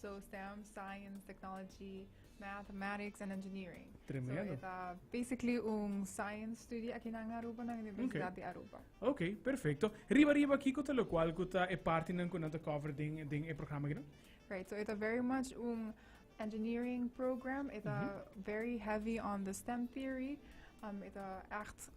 So STEM, Science, Technology, Mathematics and Engineering. Tremendo. So, eta basically un science study aquí nan Aruba, nan Universidad okay. de Aruba. Ok, perfecto. Riba riba, kiko te lo cual kuta e parte nan kunan te cover den, den e programa gino? Right, so eta very much un engineering program. Eta mm -hmm. very heavy on the STEM theory. Um, eta echt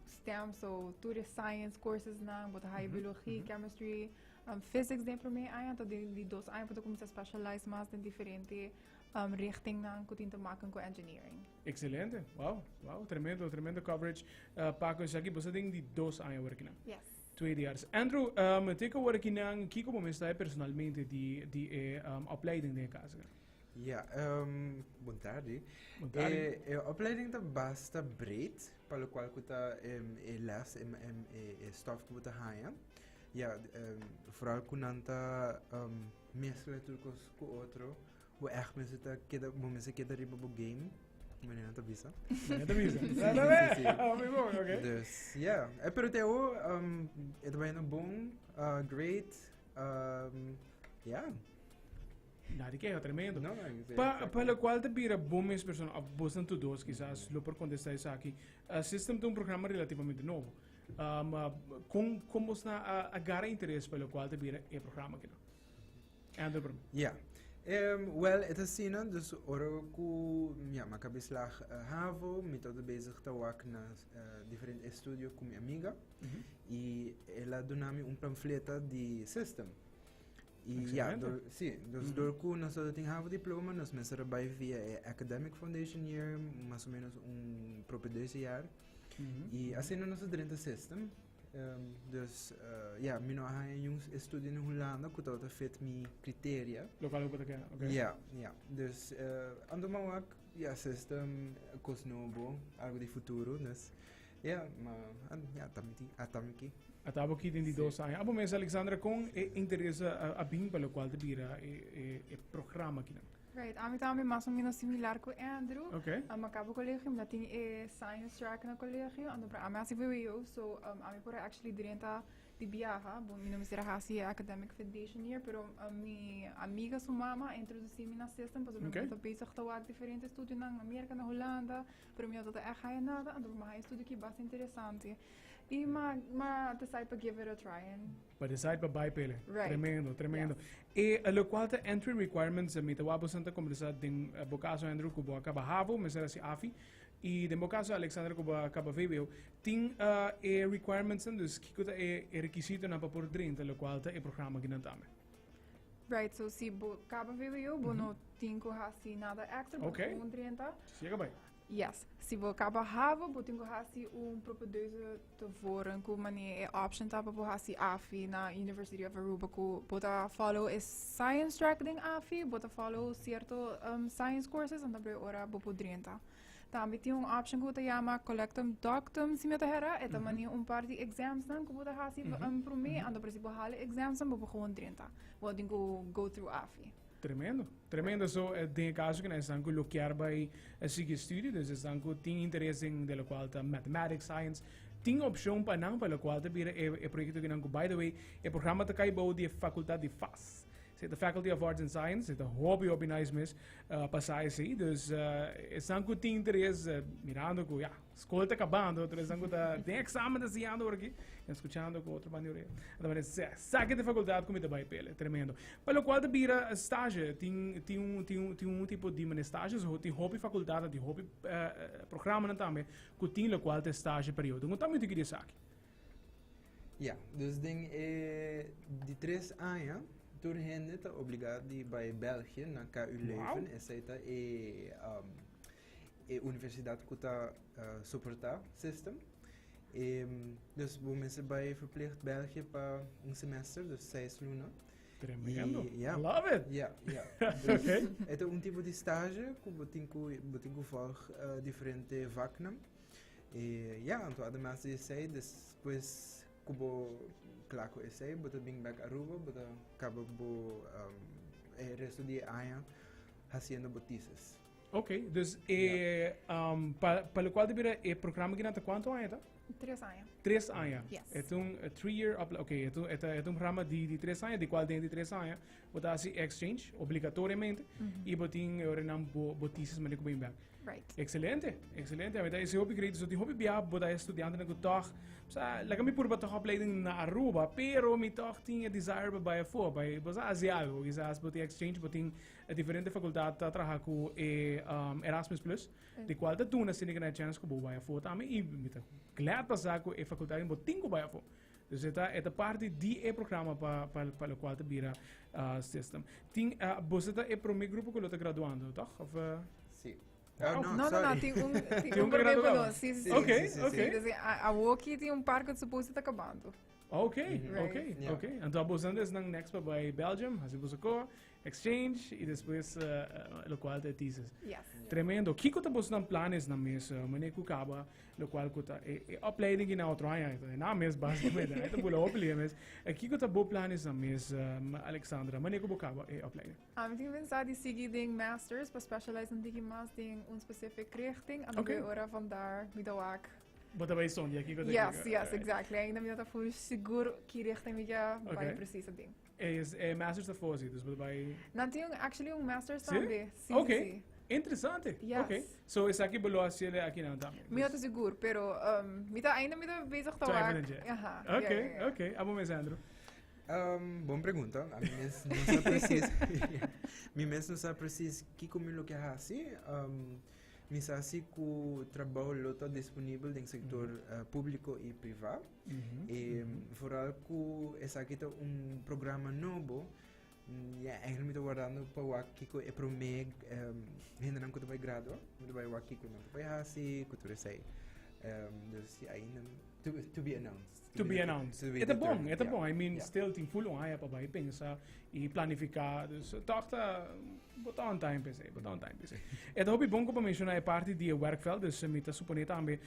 STEM, so toerist science courses nan, bota mm -hmm. biologie, mm -hmm. chemistry, Um physics den primer aña anto den di dos aña por ta cuminsa specialize mas den diferente um, richtingnan cu tin te maken cu engineering. Excelente, wow, wow, tremendo, tremendo coverage. Uh, Paco, esaki bosa den di dos aña workinan. Yes. Twee diars. Andrew, um, teka workinan, kiko bo mesta personalmente di, di e um, opleiding den casa? Ja, um, bon tardi. Bon tardi. E, e opleiding ta basta breed, pa lo cual cu ta em, e les, em, em, e, e stof cu bo ta haya. Ya, foral ku nan ta meskla tur kos ku otro, bo ègt mester ta keda, bo mester keda riba bo game, ku mane nan ta bisa. Mane ta bisa. Dus, ya. Pero te awo, e ta bañando bon, great, ya. Na di keha, tremendo. No, no, Pa, pa lo kual ta bira bo mes persona, òf bosnan tur dos kisas lo por kontestá esaki. System ta un programa relativamente nobo. Um, uh, kon, kon bos na uh, agarra interes pa lo kual ta bira e programa kino? Andrew Brum. Ja. Um, well, het is zien, dus oro ku ja, ma ka beslag uh, havo, mi todo bezig ta wak na uh, diferente estudio ku mi amiga. Mm -hmm. I ela dunami un pamfleta di system. I ja, door, si, dus mm -hmm. door ku nos todo tin havo diploma, nos mensen erbij via e academic foundation year, mas o menos un prope deze jaar. Mm Y asina nos a drenta e system. Um, dus, uh, ja, mi no a haña yung estudio in Hulanda ku tabata fit mi kriteria. Lokal ku ta kena, okay. Ja, ja. Dus, uh, ando mau ak, ja, system, kos nobo, algo di futuro, dus, ja, ma, an, ja, tamiki, a tamiki. A tamiki den di dos aña. Abo mes, Alexandra, kon e interesa a, a bin pa lo kual te bira e, e, e programa kina? Right, ami ta ami mas o menos similar ku Andrew. Okay. Um, a cabo colegio, mi tin e science track na colegio, ando para ami hasi VWO, so um, ami por actually drenta di viaja, bo mi no mi será hasi academic foundation year, pero um, mi amiga su mama introducí mi na system, pas okay. mi to bezig te wak diferente studio na Amerika, na Holanda, pero mi otata echt haya nada, ando mi haya studio ki bas interesante. I ma, ma te sai pa give it a try, en Pa decide pa bai pele. Right. Tremendo, tremendo. E a lo cual ta entry requirements, eh, mi ta wabo santa conversa den eh, bocaso Andrew Cubo acaba havo, me será si afi, y den bocaso Alexander Cubo acaba VWO, tin ah, e requirements, en, dus kiko ta e, e requisito na pa por drenta, lo cual ta e programa ginan tame. Right, so si bo caba VWO, bo no tin cu hasi nada extra, bo Oké. gewoon drenta. Si acaba. Yes. Si bo kaba habo, bo tin ku hasi un propedeuse tevoren ku mane e option ta pa bo hasi AFI na University of Aruba ku bo ta follow e science track den AFI, bo ta follow cierto um, science courses, anto e ora bo por drenta. Tambe tin un option ku ta llama collectum doctum, si mi ta hera, e ta mane un par di exams nan ku bo ta hasi um, promé, anto si bo hala exams nan bo por gewoon drenta. Bo tin ku go through AFI. Tremendo, tremendo. So den e kaso kina esnan ku lo kier bai sigui studio, dus esnan ku tin interes den de lokual ta mathematics, science, tin opshon pa nan pa lokual ta bira e e proyekto kinan ku by the way e programa ta kai bou di e fakultat di fas. Esei ta Faculty of Arts and Science, esei ta hopi hopi nice mes pa sa esei. Dus esnan ku tin interes mirando ku ya. School te acabando, tres dan guta den examen te siyando por aquí, en escuchando con otro manioreo. Además, saque de facultad como te vai pele, tremendo. Para lo cual te bira stage, tin, tin, un, tin, tin un tipo de mene stage, so, tin hopi facultad, tin hopi uh, programa tambe, ku tin lo cual te stage periodo. Ngun tambe tiki de saki. Ja, dus den e di tres aña, tur hende ta obligado di bai België na KU Leuven, wow. esei ta e um, e universidad cu ta soporta system y dus bo mester bay verplicht België pa un semester dus seis luna. Tremendo. Y, yeah. Love it. Ja, ja. Dus okay. het is een type die stage, botinko botinko volg uh, diferente vaknam. E ja, en toen además de zij, dus pues kubo klako is zij, boto bing back Aruba, boto kabo bo um, e resto die año haciendo botices. Ok, dus e, um, pa, pa lo cual te bira e programa que nata cuánto aña ta? Tres aña. Tres aña. Yes. Es un eh, three year, up, ok, es un, es, es un programa di, di tres aña, di cual den di tres aña, bo ta haci exchange, obligatoriamente, y bo tin, ahora nan bo, bo thesis manier como back. Right. Excelente, excelente. Met is hopi great. So die hopi bia bo da estudiante na toch. So la kami purba toch opleiding na Aruba, pero mi toch tin e desire ba baie voor, ba bo sa hace algo, quizás bo tin exchange, bo tin E diferente fakultat ta traha ku e Erasmus Plus, di kual ta duna Sinica Nae chèns ku bo bai afó tambe i mi ta glad pa sa ku e fakultat bo tin ku bai afó. Dus e ta e ta parti di e programa pa pa lokual ta bira sistem. Tin boso ta e promé grupo ku lo ta graduando, tòg? Òf Si. No, no, no, tin un tin un promé ku lo. Si, si, si. Dus awor aki tin un par ku ta suposto ta kabando. Oke, oke, oke. Anto boso esnan nèks pa bai Belgium, hasi boso kò, Exchange y despues lo cual ta e thesis. Yes. Tremendo. Kiko ta bos nan planes na mes mane ku kaba lo cual ku ta e, e opleiding ki na otro aña e na mes basicamente. Ai ta bula opli e mes. E kiko ta bo planes na mes um, Alexandra? Mane ku bo kaba e opleiding? Ah, mi tin pensá di sigui den masters pa specialize un tiki mas den un specific richting. Ano okay. ora van daar mi da wak Bota bij zonde, aquí Yes, yes, exactly. Ainda mi no ta full seguro ki richting mi ga okay. precies ding. Es e masters ta for si, dus por ta bai. Nan tin un actually un masters Sí? tambe. Sí, Ok. sí, sí. Interesante. Yes. Ok. So esaki bo lo a hacele aki nan tambe. Mi no ta sigur, pero um, mi ta ainda mi ta bezig ta Twijfel wak. en je. Aha, ja, Ok, ja, ja. ok. Abo mes Andrew. Ehm, bon pregunta. A mi mes no sa presis. mi mes no sa presis kiko mi lo ke hasi. Ehm, mi sa si ku trabou lo ta disponibel den sektor eh, públiko i privá. E vooral ku esaki ta un programa nobo, ya eigenlijk mi ta wardando pa wak kiko e promé um, hendenan ku ta bai gradua, mi ta bai wak kiko nan ta bai hasi, ku tur esei. Um, dus ya ainda to, to be announced. To be announced. To be Eta bon, determined, eta yeah. bon. I mean, Yeah. still tin full on haya pa bai pensa i planifica. Dus toch ta bota on time pese, bota on time pese. Eta hopi bon ko pa menciona e parti di e werkveld, dus eh, mi ta supone tambe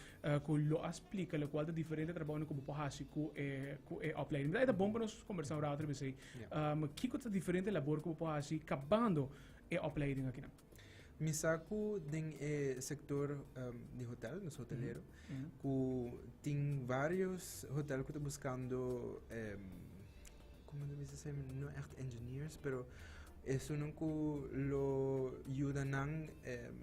ku lo a splika lokual ta diferente trabounan ku bo por hasi ku e ku e opleiding. Mira, e ta bon pa nos kombersá un rato riba esei. Um, kiko ta diferente labor ku bo por hasi kabando e opleiding akinan? Mi sa ku den e sektor um, di hotel, nos hotelero, ku tin varios hotel ku ta buskando em, como ta bisa esei, no echt engineers, pero esunnan ku lo yuda nan em,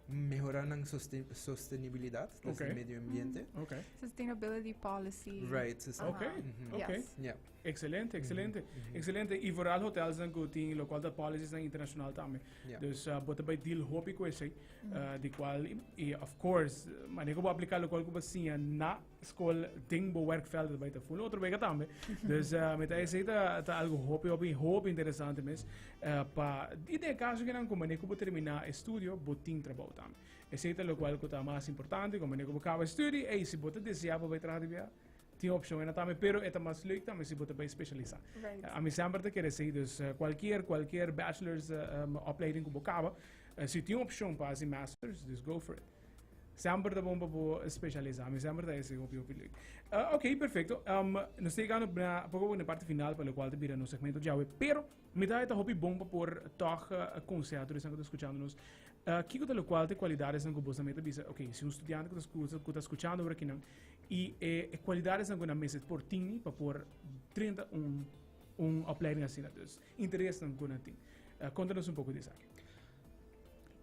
mehora nan sostenibilidat okay. desde medio ambiente. Mm, okay. Sustainability policy. Right. Sus okay. Uh -huh. okay. Yes. Yeah. Excelente, excelente. Mm -hmm. Excelente. Y vooral hotels dan goeding, lo cual dat policies dan internacional también. Yeah. Dus uh, bota bij deal hopi kwestie, mm -hmm. uh, di cual, y, of course, manejo bo aplicar lo cual kuba sinja na School ting bo werkvelden bij te voelen. Otro weken tambe. Dus uh, met IC ta, ta algo hopi, hopi, hopi interesante mes. Uh, pa, y de caso que nan como ne como termina estudio, bo ting trabajo tambe. Ese es lo cual que más importante, como ne como acaba estudio, y si bo te desea para trabajar de viaje, tiene opción en también, pero es más leuk también si te especializar. Right. A mí siempre te quiere decir, dus eh, cualquier, cualquier bachelor's uh, um, opleiding que bo acaba, uh, si tiene opción para hacer masters, dus go for it. Semper ta bon pa bo specialisa. Mi semper ta ese hopi hopi lui. Uh, ok, perfecto. Um, nos te gano na poco na parte final para lo cual te bira no segmento jawe. Pero mi ta ta hopi bon pa por toch uh, eh, consejo de sangue escuchando nos. Uh, kiko ta lo cual te cualidades sangue bosa meta bisa. Ok, si un estudiante que ta escucha, que ta escuchando ahora kinan y eh, eh cualidades sangue na meset por tini pa por 31 un opleiding así na dus. Interesnan cu nan tin. Conta nos un poco di esaki.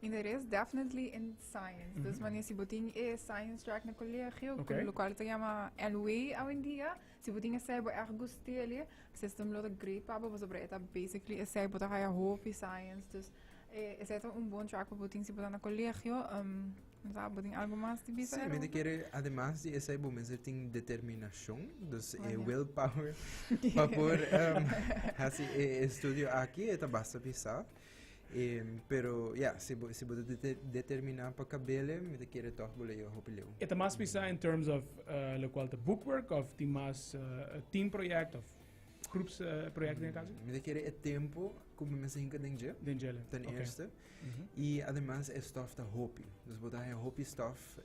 Interes definitely in science. Dus mania si bo tin e science track na colegio, Ok. lo cual ta llama LWE awendia, si bo tin esai bo erg gusti eli, system lo ta great pa bo, pasobra e ta basically esai, bo ta haya hopi science. Dus e- esai ta un bon track pa bo tin si bo ta na colegio. Um, Sa, bo tin algu mas di bisa? Sí, mi ta kere, ademas di esei, bo mester tin determinashon, dus e will power, pa por um, hasi e estudio aki, e ta basta bisa. Em, pero, ya, si bo, si bo ta dete- determiná pa kabele, mi ta kere tòg bo lei hopi leu. E ta mas bisa in terms of eh, lokual ta bookwork of tin mas eh, team project of groeps eh, project den e kaso? Mi ta kere e tempo ku bo mester hinka den dje, Den jele. ten Oké. eerste. I ademas e stòf ta hopi. Dus bo ta haña hopi stòf.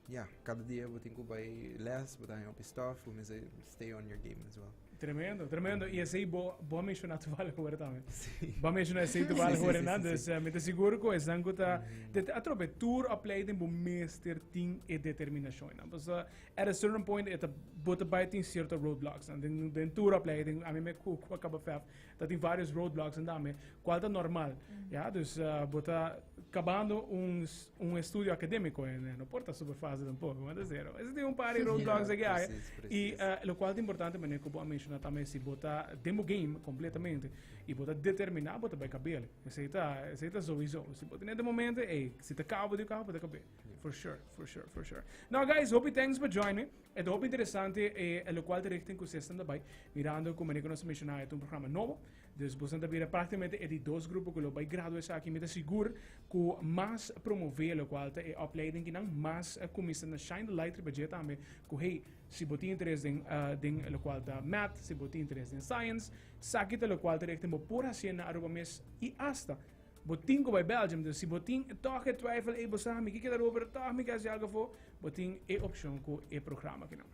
Ya, kada dia bo tin ku bai lès, bo ta haña hopi stòf. Bo mester stay on your game as well. Tremendo, tremendo. I esei bo, bo a menshoná tubal ahora tambe. Sí. Bo a menshoná esei tubal Sí, sí, ahora, sí, nan. sí, Dus sí. eh, mi ta sigur ku esnan ku ta... te- te- Atrobe, tur opleiding bo mester tin e determinashon nan. Pasobra at a certain point e ta, bo ta bai tin cierto roadblocks nan. Den, den tur opleiding, ami me ku, ku a kaba vèf, Ta tin varios roadblocks en dame, cual ta normal. Ya, dus uh, bo ta acabando un, un estudio académico en, eh, no por ta super fácil tampoco, want zero. Ese tin un par de roadblocks yeah, que hay. Precies, precies. Y uh, lo cual ta importante, meneer Kobo a menciona también, si bo ta demo game completamente, y bo ta determinar, bo ta bij cabele. Ese ta, ese ta sowieso. Si bo tiene de momento, hey, si te cabo de cabo, bo ta cabele. For sure, for sure, for sure. Now guys, hope you thanks for joining me. E ta hopi interesante e lokual ta richting ku sesnan ta bai, mirando ku manera ku nos a menshoná e ta un programa nobo. Dus bosnan ta bira praktikamente e di dos grupo ku lo bai graduá esaki. Mi ta sigur ku mas promové lokual ta e opleiding ki nan mas kuminsá na shine the light riba dje tambe ku hey, si bo tin interes den den lokual ta Math, si bo tin interes den Science, esaki ta lokual ta richting bo por hasié na Aruba mes i asta Bo tin ku bai Belgium, dus si bo tin tòg e twijfel ei bo sa mi ke keda Rome pero tòg mi ke hasi algu afó, bo tin e opshon ku e programa akinan.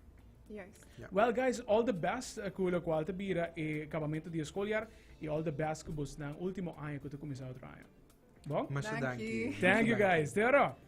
Juist. Ja. Well guys, all the best ku lokual ta bira e kabamentu di e skoljar i all the best ku bosnan último aña ku ta kuminsá otro aña. Bon? Masha Danki. danki. Thank you guys. Te oro.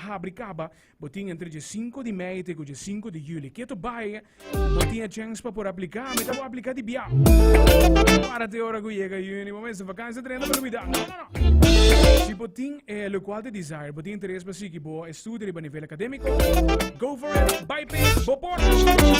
Habri kaba, bo tin entre dje sinku di mei te ku dje sinku di juli. Ke to bai, bo tin e chèns pa por apliká. Mi ta wou apliká di bia. Para te ora ku yega juni, bo mester vakansia trenta pa Navidad. No, no, no. Si bo tin e lo kual te desire, bo tin interes pa sigui bo estudio riba nivel akadémiko, go for it, bai p'e, bo por.